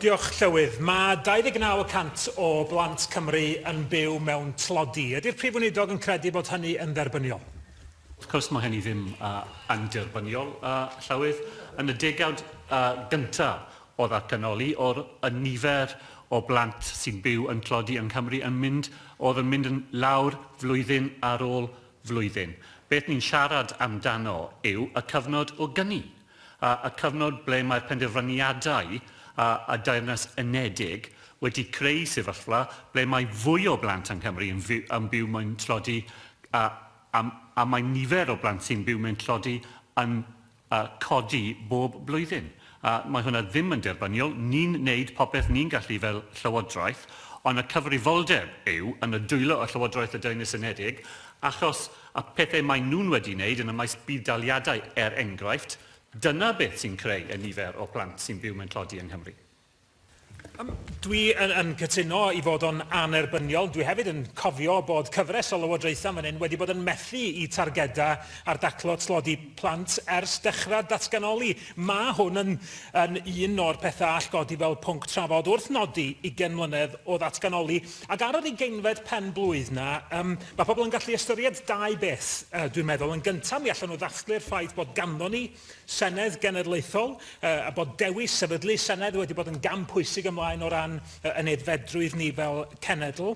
Diolch, Llywydd. Mae 29 y cant o blant Cymru yn byw mewn tlodi. Ydy'r Prif Weinidog yn credu bod hynny yn dderbyniol? Wrth cwrs, mae hynny ddim yn derbyniol, Llywydd. Yn y degawd gyntaf o ddatganoli, oedd y nifer o blant sy'n byw yn tlodi yng Nghymru yn mynd, oedd yn mynd yn lawr flwyddyn ar ôl flwyddyn. Beth ni'n siarad amdano yw y cyfnod o gyni. a chyfnod ble mae'r penderfyniadau a Deyrnas Unedig wedi creu sefyllfa ble mae fwy o blant yng Nghymru yn byw mewn tlodi a mae nifer o blant sy'n byw mewn tlodi yn codi bob blwyddyn. Mae hwnna ddim yn derbyniol. Ni'n wneud popeth ni'n gallu fel Llywodraeth, ond y cyfrifoldeb yw yn y dwylo y Llywodraeth a Deyrnas Unedig, achos a phethau maen nhw'n wedi wneud yn y maes budd-daliadau, er enghraifft, dyna beth sy'n creu y nifer o blant sy'n byw mewn tlodi yng Nghymru. Yym, dwi yn, yn cytuno i fod o'n annerbyniol. Dwi hefyd yn cofio bod cyfres o lywodraethau fan hyn wedi bod yn methu i targedau ar daclo tlodi plant ers dechrau'r datganoli. Mae hwn yn, yn un o'r pethau all godi fel pwnc trafod wrth nodi ugain mlynedd o ddatganoli, Ac ar yr ugeinfed pen-blwydd 'na, yym, ma' pobl yn gallu ystyried dau beth, yy, dwi'n meddwl. Yn gynta', mi allen nhw ddathlu'r ffaith bod ganddon ni Senedd Genedlaethol, yy, a bod dewis sefydlu Senedd wedi bod yn gam pwysig ymlaen o ran yy yn aeddfedrwydd ni fel cenedl.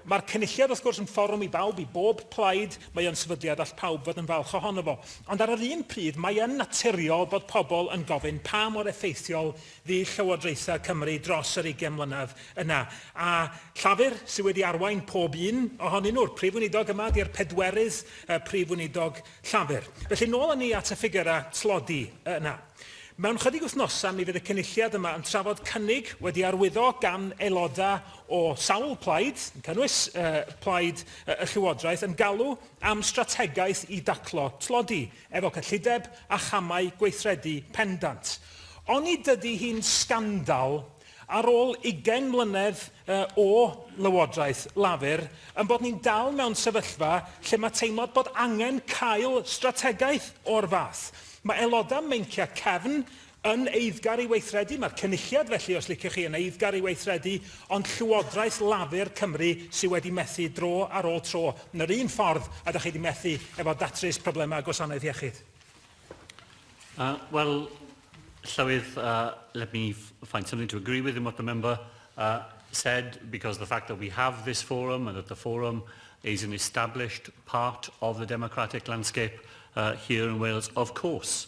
Ma'r Cynulliad, wrth gwrs, yn fforwm i bawb, i bob plaid, mae o'n sefydliad all pawb fod yn falch ohono fo. Ond ar yr un pryd, mae yn naturiol bod pobl yn gofyn pa mor effeithiol fu llywodraethau Cymru dros yr ugain mlynedd yna, a Llafur sydd wedi arwain pob un ohonyn nhw'r Prif Weinidog yma ydi'r pedwerydd Prif Weinidog Llafur. Felly, nôl â ni at y ffigyrau tlodi yna. Mewn chydig wythnosau mi fydd y Cynulliad yma yn trafod cynnig wedi arwyddo gan aelodau o sawl plaid, yn cynnwys plaid y Llywodraeth, yn galw am strategaeth i daclo tlodi. efo cyllideb a chamau gweithredu pendant. Oni dydi hi'n sgandal, ar ôl ugain mlynedd o lywodraeth Lafur, ein bod ni'n dal mewn sefyllfa lle mae teimlad bod angen cael strategaeth o'r fath? Mae aelodau meinciau cefn Yn eiddgar i weithredu, mae'r Cynulliad felly, os liciwch chi, yn eiddgar i weithredu, ond Llywodraeth Lafur Cymru sydd wedi methu dro ar ôl tro, yn yr un ffordd a da chi wedi methu efo datrys problemau gwasanaeth iechyd. Uh, well, Llywydd, uh, let me find something to agree with in what the member uh, said, because the fact that we have this forum and that the forum is an established part of the democratic landscape uh, here in Wales, of course,